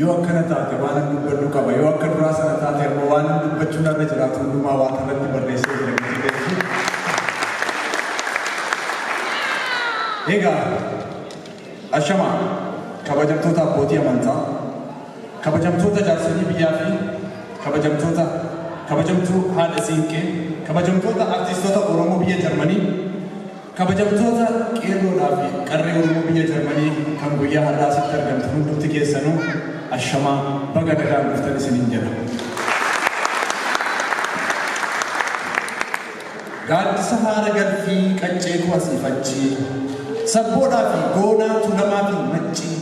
Yoo akkana taate waanan dubbadhu qaba, yoo akka duraa sana taate ammoo waanan dubbachuu narra jiraatu hundumaa Waaqa irratti barreessee jira gatii galchii. Egaa ashamaa kabajamtoota abbootii amantaa, kabajamtoota jaarsolii biyyaa fi kabajamtoota kabajamtuu haadha siinqee, kabajamtoota artiistota Oromoo biyya Jarmanii, Kabajamtoota Qeerroodhaa fi Qarree Oromoo biyya Jarmanii kan guyyaa har'aa asitti argamtan hundumti keessanuu ashamaa baga nagaan dhuftan isiniin jedha. Gaaddisa haara galfii qaccee koo asiif achi, sabboonaa fi goonaa Tuulamaa fi Maccii,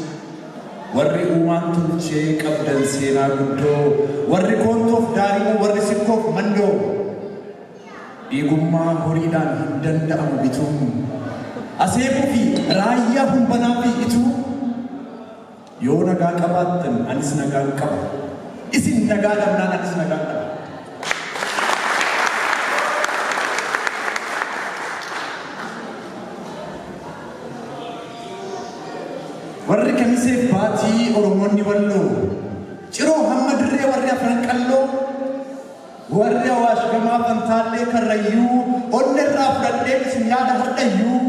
warri uumaan tolchee qabdan seenaa guddoo, warri Koontoof Daarimoo, warri Sikkoof Mandoo, Eegummaa horiidhaan hin danda'amu bituun Aseeboo fi Raayyaa Humbanaa fi Ituu Yoo nagaa qabaattan anis nagaan qaba Isin nagaa dhabnaan anis nagaan dhaba Warri Kamisee Baatii Oromoonni Walloo Ciroo hamma Dirree warri Afran Qalloo Warri Awaash Gamaa, Fantaallee, Karrayyuu, Onne irraa fudhadheen isin yaada hardhayyuu.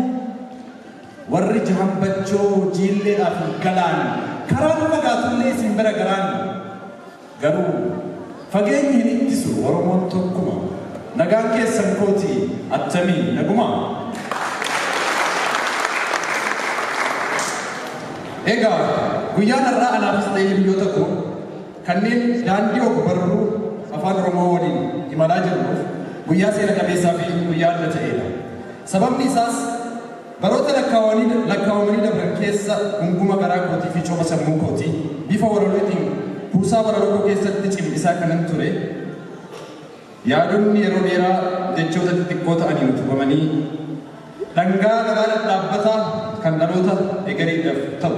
Warri Jahan Bachoo, Jiilleedhaa fi Galaan, karaan fagaatullee isin bira garaan. Garuu fageenyi hin ittisu Oromoon tokkuma, nagaan keessan kooti attamii naguma? Egaa guyyaan har'aa anaafis ta'e hiriyyoota koo. Kanneen daandii ogbarruu Afaan Oromoo waliin imalaa jirruuf guyyaa seena qabeessaafi guyyaa adda ta'eedha. Sababni isaas, baroota lakkaawamanii dabran keessa gunguma garaa kootiifi copha sammuu kootii bifa walalootiin kuusaa walalookoo keessatti cimdisaa kanan ture, Yaadonni yeroo dheeraa jechoota xixiqqoo ta'aniin utubamanii dhangaa garaa dhadhaabbataa kan dhaloota egariidhaf ta'u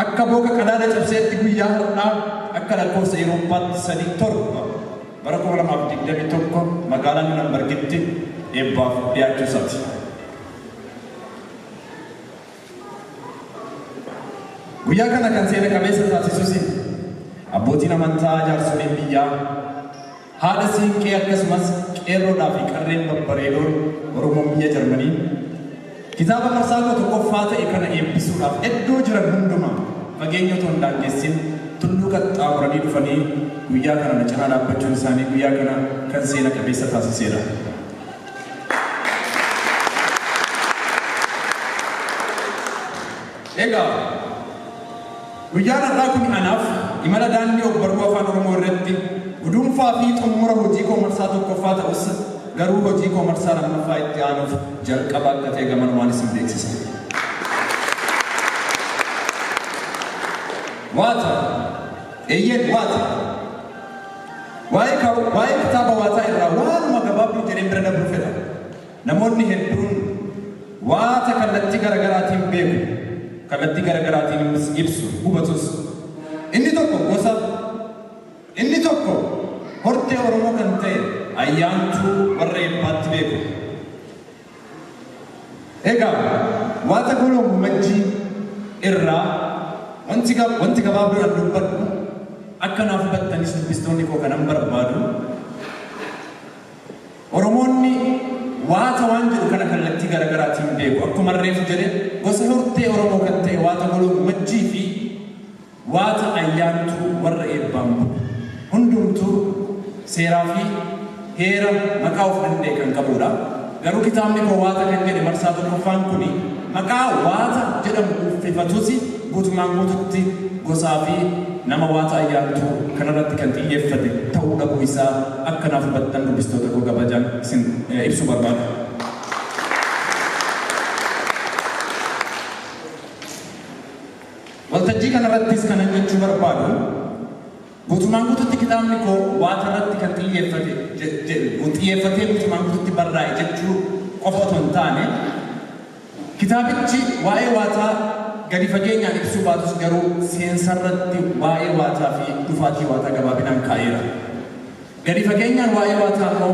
akka booka qadaada cabseetti guyyaa har'aa akka lakkoofsa Erooppaatti Sadii 7 bara 2021 magaalaa Nurembergitti eebbaaf dhiyaachuu isaati. Guyyaa kana kan seena qabeessa taasisus abbootiin amantaa, jaarsoliin biyyaa, haadha siinqee akkasumas qeerroodhaa fi qarreen babbareedoon Oromoo biyya Jarmanii kitaaba marsaa 11ffaa ta'e kana eebbisuudhaaf eddoo jiran hundumaa fageenya otoo hin daangessin tulluu qaxxaamuranii dhufanii guyyaa kana na cinaa dhaabbachuun isaanii guyyaa kana kan seena qabeessa taasiseedha. Egaa, guyyaan har'aa kun anaaf imala daandii ogbarruu Afaan Oromoo irratti guduunfaa fi xumura hojii koo marsaa tokkoffaa ta'us, garuu hojii koo marsaa lammaffaa itti aanuuf jalqaba akka ta'e gamanumaan isin beeksisa. Waata! Eeyyeen waata! Waa'ee ka, waa'ee kitaaba waataa irraa waanuma gabaabduu jedheen bira dabruu fedha. Namoonni hedduun waata kallattii gara garaatiin beeku, kallattii gara garaatiinis ibsu, hubatus. Inni tokko gosa, inni tokko hortee Oromoo kan ta'e Ayyaantuu warra Eebbaatti beeku. Egaa waata goloo Gurmajjii irraa wanti wanti gabaabduudhaan dubbadhu akka naaf hubattanis dubbistoonni koo kanan barbaadu Oromoonni waata waan jedhu kana kallattii gara garaatiin beeku akkuma reefu jedhe gosa hortee Oromoo kan ta'e waata goloo Gumajjii fi Waata Ayyaantuu warra eebbaan bulu. Hundumtuu seeraa fi heera maqaa of danda'e kan qabuu dha. Garuu kitaabni koo Waata kan jedhe marsaa tokkoffaan kuni maqaa Waata jedhamu uuffefatusi guutumaan guututti gosaa fi nama Waata Ayyaantuu kanarratti kan xiyyeeffate ta'uu dhabuu isaa akka naaf hubattan dubbistoota koo kabajaan isin ibsuu barbaada. Waltajjii kanarrattis kanan jechuu barbaadu, guutumaan guututti kitaabni koo Waaqarratti kan xiyyeeffate jedhu, xiyyeeffatee guutumaan guututti barraa'e jechuu qofa otoo hin taane, kitaabichi waa'ee Waaqaa gadi fageenyaan ibsuu baatus garuu seensarratti waa'ee Waaqaafi dhufaatii Waaqaa gabaabinaan kaa'eera. Gadi fageenyaan waa'ee Waataa immoo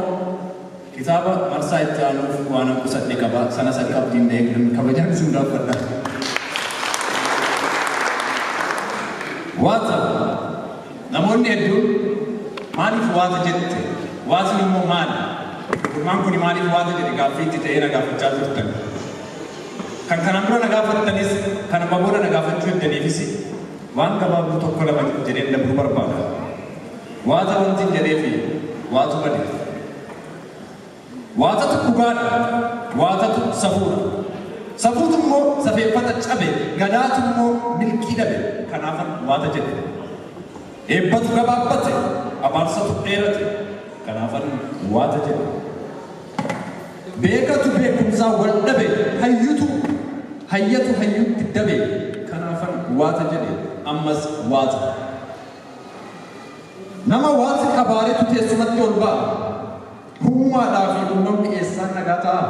kitaaba marsaa itti aanuuf waanan qusadhe qaba. Sanas akka abdiin na eegdan kabajaan isin gaafadha. Waata, Namoonni hedduun maaliif waata jette? Waatni immoo maali? Gurmaan kuni maaliif waata jedhe gaaffii itti ta'ee na gaafachaa turtan. Kan kanaan dura na gaafattanis kan amma booda na gaafachuu eddaniifis waan gabaabduu tokko lama jedheen dabruu barbaada. Waata wantin jedheefi waatu badeef. Waatatu dhugaadha, waatatu safuudha. Safuutu immoo safeeffata cabe, gadaatu immoo milkii dhabe. Kanaafan waata jedhe. Eebbatu gabaabbate, abaarsatu dheerate. Kanaafan waata jedhe. Beekatu beekumsaa wal dhabe, hayyutu hayyatu hayyutti dabe. Kanaafan waata jedhe. Ammas waata. Nama waanti qabaaretu teessumatti ol ba'a, huumaadhaa fi uumamni eessaan nagaa ta'a?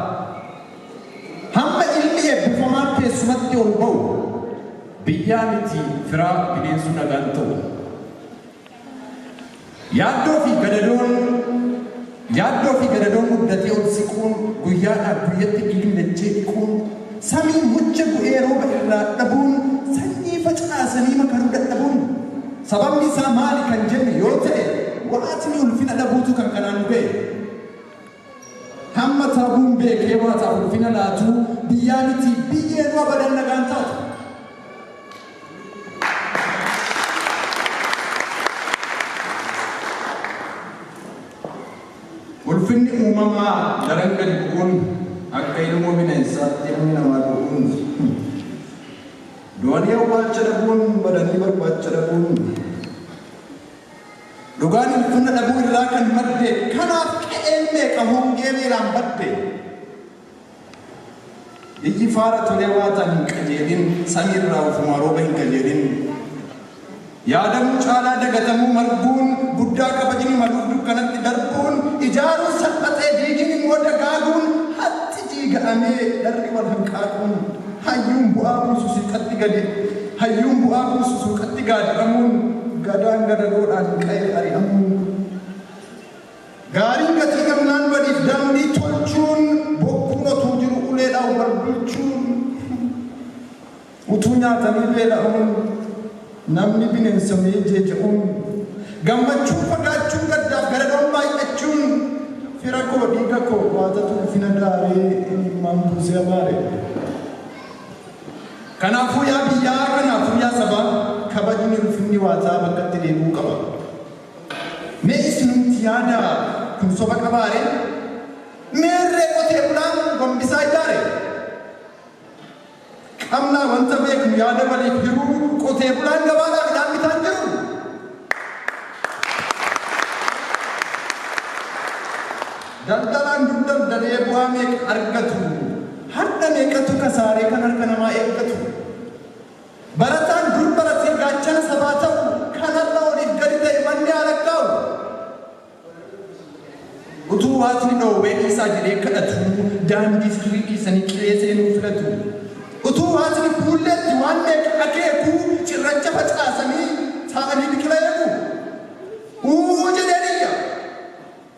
Hamma ilmi eebbifamaan teessumatti ol ba'u, biyyaa miti firaa bineensuu nagaan ta'u. Yaaddoo fi gadadoon. Yaaddoo fi gadadoon muddatee ol siquun, guyyaadhaa guyyatti dhiigni dachee dhiquun, samiin mucha bu'ee rooba irraa dhabuun, sanyii facaasanii makaruu dadhabuun sababni isaa maali kan jennu yoo ta'e waatni ulfina dhabuutu kan kanaan nu ga'e. Hamma taabuun beekee waataaf ulfina laatu biyyaa miti biyyeenuu abadan nagaan taatu. Ulfinni uumamaa daran gadi bu'uun akka ilmoo bineensaatti ilmi namaa du'uun du'anii awwaalcha dhabuun badanii barbaacha dhabuun dhugaan ulfina dhabuu irraa kan madde kanaaf qe'een meeqa hongee beelaan badde Biyyi faara tolee waataan hin qajeelin samii irraa ofumaa rooba hin kajeelin Yaadamuu caalaa dagatamuu marguun guddaa kabajni maluuf dukkanatti darbuun Ijaaruun salphatee diigin immoo dagaaguun Hatti diiga'amee dharri wal hanqaaquun Hayyuun bu'aa buusu siixatti gadi Hayyuun bu'aa buusu suuqatti gaadi'amuun Gadaan gadadoodhaan qa'ee ari'amuun Gaariin gatii gamnaan badiif daandii tolchuun bokkuun otuu jiru uleedhaan wal bulchuun utuu nyaatanii beela'uun namni bineensa mee jeeja'uun gammachuun fagaachuun gaddaaf garadoon baay'achuun fira koo dhiiga koo waatatu ulfina daaree imimmaan buusee abaare. Kanaafuu yaa biyyaa kanaafuu yaa sabaa kabajni ulfinni waataa bakkatti deebi'uu qaba. Mee isinumti yaadaa kun soba qabaa ree? Meerree qotee bulaan gombisaa ijaare? Qabnaa wanta beeknu yaada waliif hiruu qotee bulaan gabaadhaa midhaan bitaa hin jiru? Daldalaan dur daldalee bu'aa meeqa argatu? Har'a meeqatu kasaaree kan harka namaa eeggatu? Barataan dur baratee gaachana sabaa ta'u kan har'a oliif gadi ta'e manni haa lakkaa'u. Utuu Waaqni dhoowwee dhiisaa jedhee kadhatuu daandii sirrii dhiisanii qilee seenuu filatu. Utuu Waaqni fuulleetti waan meeqa akeekuu cirracha facaasanii taa'anii biqila eegu. Uuu jedheen iyya!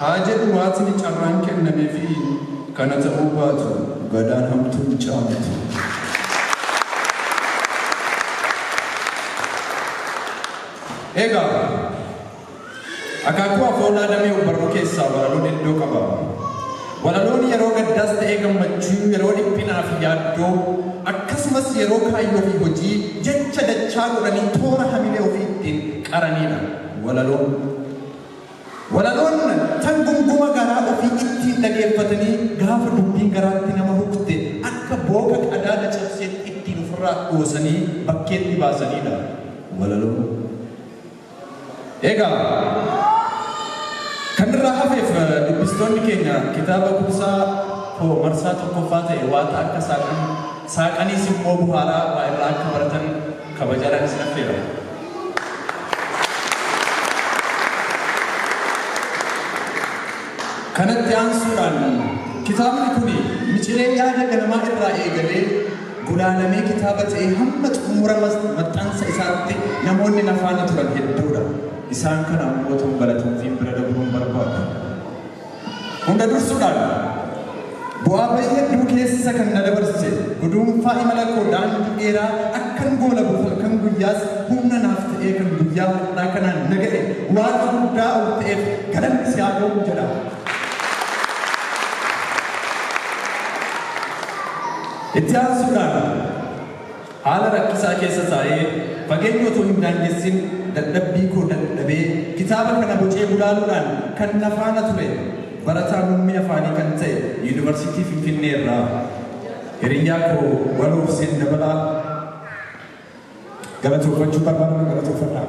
Haa jedhu Waaqni carraan kennameefii kana ta'uu baatu gadaan hamtuu hin caamtu. Egaa akaakuu afoolaa damee ogbarruu keessaa walaloon eddoo qaba. Walaloon yeroo gaddaas ta'ee gammachuu, yeroo dhiphinaa fi yaaddoo, akkasumas yeroo kaayyoo fi hojii jecha dachaa godhanii toora hamilee ofii ittiin qaranidha walaloon. Walaloon tan gumguma garaa ofii ittiin dhageeffatanii gaafa dubbiin garaatti nama hukte akka booka qadaada cabseetti ittiin ufirraa dhoosanii bakkeetti baasaniidha. Walaloon. Egaa, kan irraa hafeef dubbistoonni keenya kitaaba kuusaa koo marsaa tokkoffaa ta'e waaxa akka saaqan, saaqaniis immoo buhaaraa waa irraa akka baratan, Kabajaadhaan isin affeera. Kanatti aansuudhaan kitaabni kun micilee yaada ganamaa irraa eegalee gulaalamee kitaaba ta'ee hamma xumura maxxansa isaatti namoonni na faana turan hedduudha. Isaan kana ammoo otuun balatoomfiin bira dabruun barbaadu. Hunda dursuudhaan, bu'aa bayii hedduu keessa kan na dabarse, guduunfaa imala koo daandii dheeraa akkan goolabuuf halkan guyyaas humna naaf ta'ee kan guyyaa har'aa kanaan na ga'e Waaqa guddaa ol ta'eef galanni si haa ga'u jedha. Itti aansuudhaan. Haala rakkisaa keessa taa'ee, fageenya otoo hin daangessin dadhabbii koo dadhabee kitaaba kana bocee gulaaluudhaan kan na faana ture barataa muummee afaanii kan ta'e Yuunivarsiitii Finfinnee irraa hiriyyaa koo Waloo Huseen Dabalaa galatooffachuun barbaada na galatoofadhaa.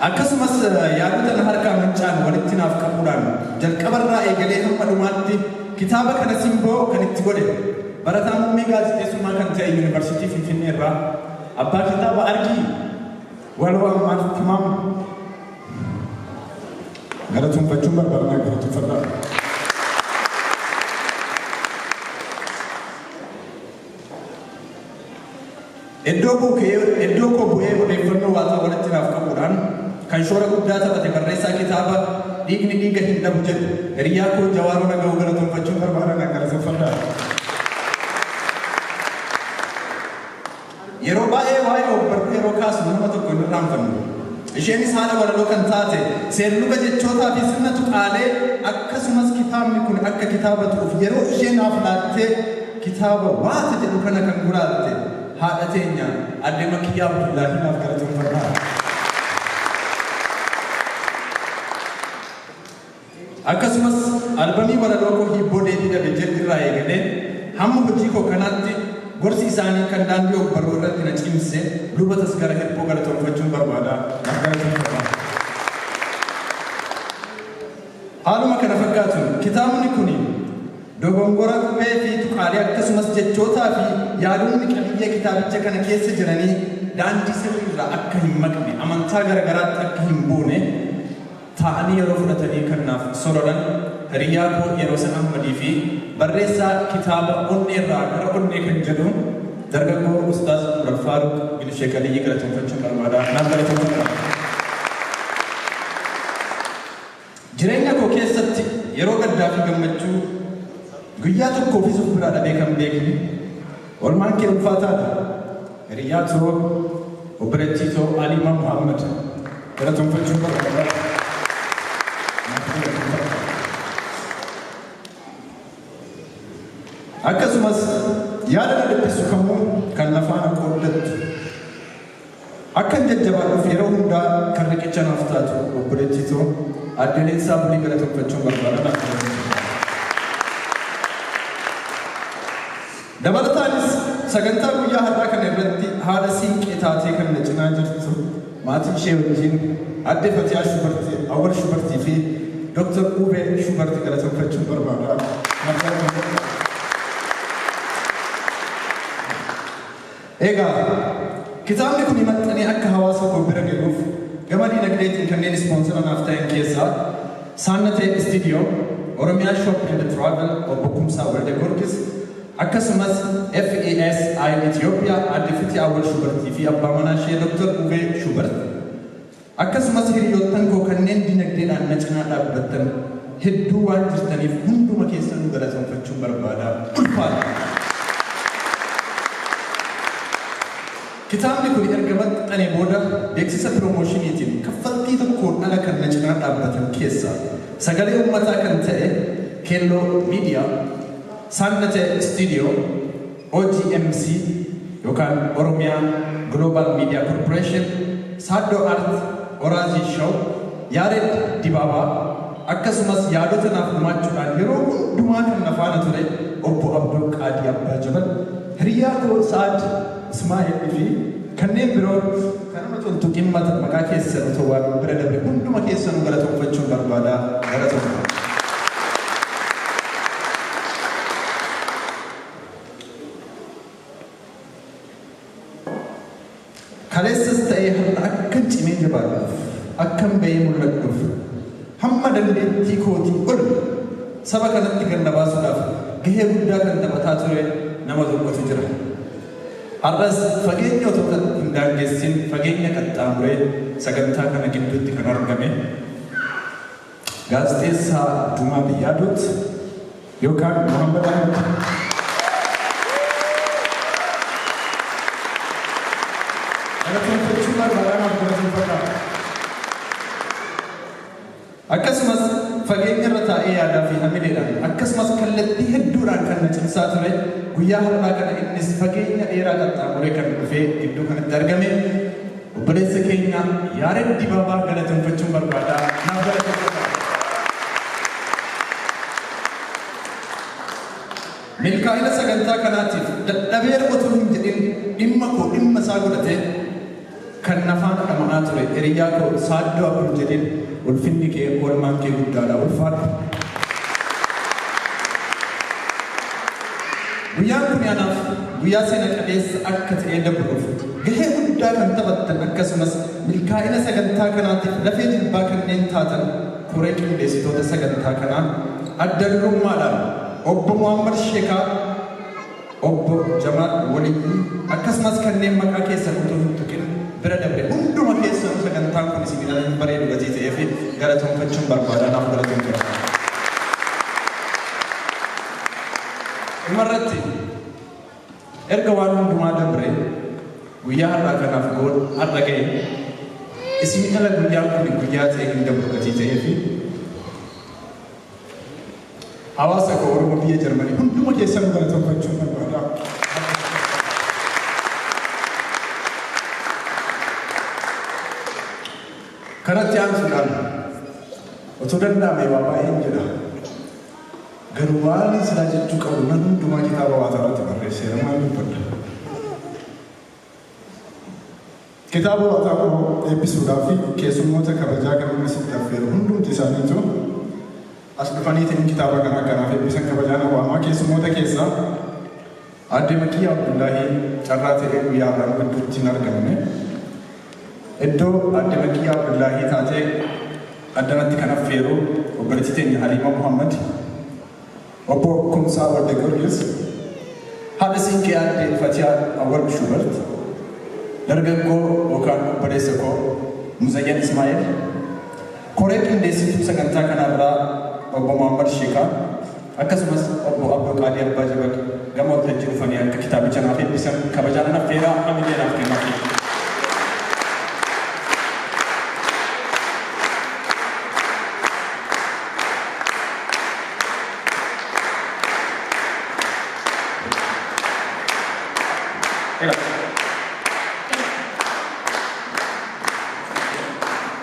Akkasumas yaadota na harkaa manca'an walitti naaf qabuudhaan jalqabarraa eegalee hamma dhumaatti kitaaba kana simboo kan itti godhe barataa muummee gaazexeessummaa kan ta'e Yuunivarsiitii Finfinneerraa abbaa kitaaba Argii Waloo Ammaar Tamaam galatoomfachuun barbaada. Galatoomfadhaa. Iddoo koo ka'ee, iddoo koo bu'ee odeeffannoo waaqaa walitti naaf qabuudhaan kan shoora guddaa taphate barreessaa kitaaba Dhiigni Dhiiga Hin Dhabu jedhu hiriyyaa koo Jawaaroo Nagawoo galatomfachuun barbaada naaf galatomfadhaa. Yeroo baay'ee waa'ee ogbarruu yeroo kaasnu nama tokko hin irraanfannu. Isheenis haadha walaloo kan taate seerluga jechootaafi sirna tuqaalee akkasumas kitaabni kun akka kitaaba tu'uuf yeroo ishee naaf laattee kitaaba Waata jedhu kana kan guraatte haadha teenya Aadde Makkiyyaa Abdullaahii naaf galatoomfadhaa. Akkasumas albamii walaloo koo Hiibboo Deebii Dhabe jedhu irraa eegalee hamma hojii koo kanaatti gorsi isaanii kan daandii ogbarruu irratti na cimse Luba Tasgara Hirphoo galatoomfachuun barbaada. Naaf galatoomii jabaa. Haaluma kana fakkaatuun kitaabni kuni dogongora qubee fi tuqaalee akkasumas jechootaa fi yaadonni qabiyyee kitaabicha kana keessa jiranii daandii sirrii irraa akka hin maqne, amantaa gara garaatti akka hin buune, taa'anii yeroo fudhatanii kan naaf sororan hiriyyaa koo Yeroosan Ahmadii fi barreessaa kitaaba Onneerraa Gara Onnee kan jedhu dargaggoo Ustaaz Umar Faaruq bin Sheek Aliyyii galateeffachuun barbaada. Naaf galateeffadhaa. Jireenya koo keessatti yeroo gaddaa fi gammachuu guyyaa tokkoofis of biraa dhabee kan beekne Olmaan kee ulfaataa dha. Hiriyyaa too obboleettii too Aliimaa Muhammad galatoomfachuu barbaada. Akkasumas yaada na dhiphisu kamuu kan na faana qooddattu. Akkan jajjabaadhuuf yeroo hundaa kan riqicha naaf taatu obboleettii too Aadde Leensaa Bulii galatomfachuun barbaada naaf jiraadhu. Dabalataanis sagantaa guyyaa har'aa kana irratti haadha siinqee taatee kan na cinaa jirtu maatii ishee wajjin Aadde Fatiyaa Shubarti, Awwal Shubartii fi Dr. Uubee Shubarti galatomfachuun barbaada. Naaf jiraadhu. Egaa, kitaabni kuni maxxanee akka hawaasa koo bira gahuuf gama diinagdeetiin kanneen ispoonsera naaf ta'an keessaa Saannatee Istiidiyoo, Oromiyaa Shop and Travel Obbo Kumsaa Waldegoorgis, akkasumas FESI Ethiopia Aadde Fiti Awwal Shubartii fi Abbaa Manaa ishee Dr. Ubee Shubarti. Akkasumas hiriyoottan koo kanneen dinagdeedhaan na cinaa dhaabbattan hedduu waan jirtaniif hunduma keessanuu galatonfachuun barbaada. Ulfaadhaa! Kitaabni kuni erga maxxanee booda beeksisa piromooshiniitiin kaffaltii tokkoon ala kan na cinaa dhaabbatan keessaa sagalee ummataa kan ta'e Keelloo Miidiyaa, Saannate Istiidiyoo, OGMC yokan Oromia Global Media Corporation Saaddoo Art Oraazii Show Yaared Dibaabaa akkasumas yaadota naaf gumaachuudhaan yeroo hundumaa kan na faana ture Obbo Abdul Qaadii Abbaa Jabal, hiriyyaa koo Sa'ad Ismaa'el fi kanneen biroo kan amma tun tuqin mata maqaa keessan otoo waamin bira dabre hunduma keessanuu galatoomfachuun barbaada. Galatoomaa. Kaleessas ta'ee har'a akkan cimee jabaadhuuf, akkan ba'ee mul'adhuuf, hamma dandeettii kootii ol saba kanatti gad na baasuudhaaf gahee guddaa kan taphataa ture nama tokkotu jira. Har'as fageenya otoo hin daangessin fageenya qaxxaamuree sagantaa kana gidduutti kan argame, Gaazexeessaa Jumaa Biyyaadot yookaan Muhammad Ahmed. Galateeffachuu barbaada naaf galateeffadhaa. Akkasumas fageenya irra taa'ee yaadaa fi hamileedhaan akkasumas kallattii hedduudhaan kan na cimsaa ture guyyaa har'aa kana innis fageenya dheeraa qaxxaamuree kan dhufee gidduu kanatti argame Obboleessa keenya Yaared Dibaabaa galateeffachuun barbaada. Naaf galateeffadhaa. Milkaa'ina sagantaa kanaatiif dadhabeera otuu hin jedhin dhimma koo dhimma isaa godhatee kan na faana dhama'aa ture hiriyaa koo Saaddoo Abdul Jaliil ulfinni kee oolmaan kee guddaadha ulfaadhu. Guyyaan kun anaaf guyyaa seena qabeessa akka ta'ee dabruuf Gahee guddaa kan taphattan akkasumas milkaa'ina sagantaa kanaatiif lafee jilbaa kanneen taatan koree qindeessitoota sagantaa kanaa adda durummaadhaan Obbo Muhammad Sheekaa, Obbo Jamaal Waliyyii akkasumas kanneen maqaa keessan utuu hin tuqin bira dabre hunduma keessanuu sagantaan kun isinii ala hin bareedu gatii ta'eef galatoomfachuun barbaada. Naaf galatoomfadhaa. Dhumarratti. Erga waan hundumaa dabree guyyaa har'aa kanaaf goon har'a ga'e isin ala guyyaan kun guyyaa ta'e hin dabru gatii ta'ee fi hawaasa koo Oromoo biyya Jarmanii hunduma keessan nu galateeffachuun barbaada. Kanatti aansuudhaan otoo danda'ame waa baay'een jedha. Garuu waanin silaa jechuu qabu nan hundumaa kitaaba waataa irratti barreesseera maan dubbadha. Kitaaba waataa koo eebbisuudhaa fi keessummoota kabajaa garuun asitti affeeru hundumti isaaniitu as dhufaniitiin kitaaba kana akka naaf eebbisan kabajaan awwaamaa keessummoota keessaa Aadde Makiyyaa Abdullaahii carraa ta'ee guyyaa har'aa gidduutti hin argamne. Iddoo Aadde Makiyyaa Abdullaahii taatee addanatti kan affeeru obboleettii teenya Haliimaa Muhammad, Obbo Kumsaa Waldagiyoorgis, haadha Siinqee Aadde Fatiyaa Awwal Shuubert, dargaggoo yookaan obboleessa koo Muzayyan Ismaa'eel, Koree qindeessituu sagantaa kanaa irraa Obbo Mohammad Shiikaa akkasumas Obbo Abdoo Qaadii Abbaa Jabal gama waltajjii dhufanii akka kitaabicha naaf eebbisan kabajaan nan affeera hamilee naaf kennaafii. Ela.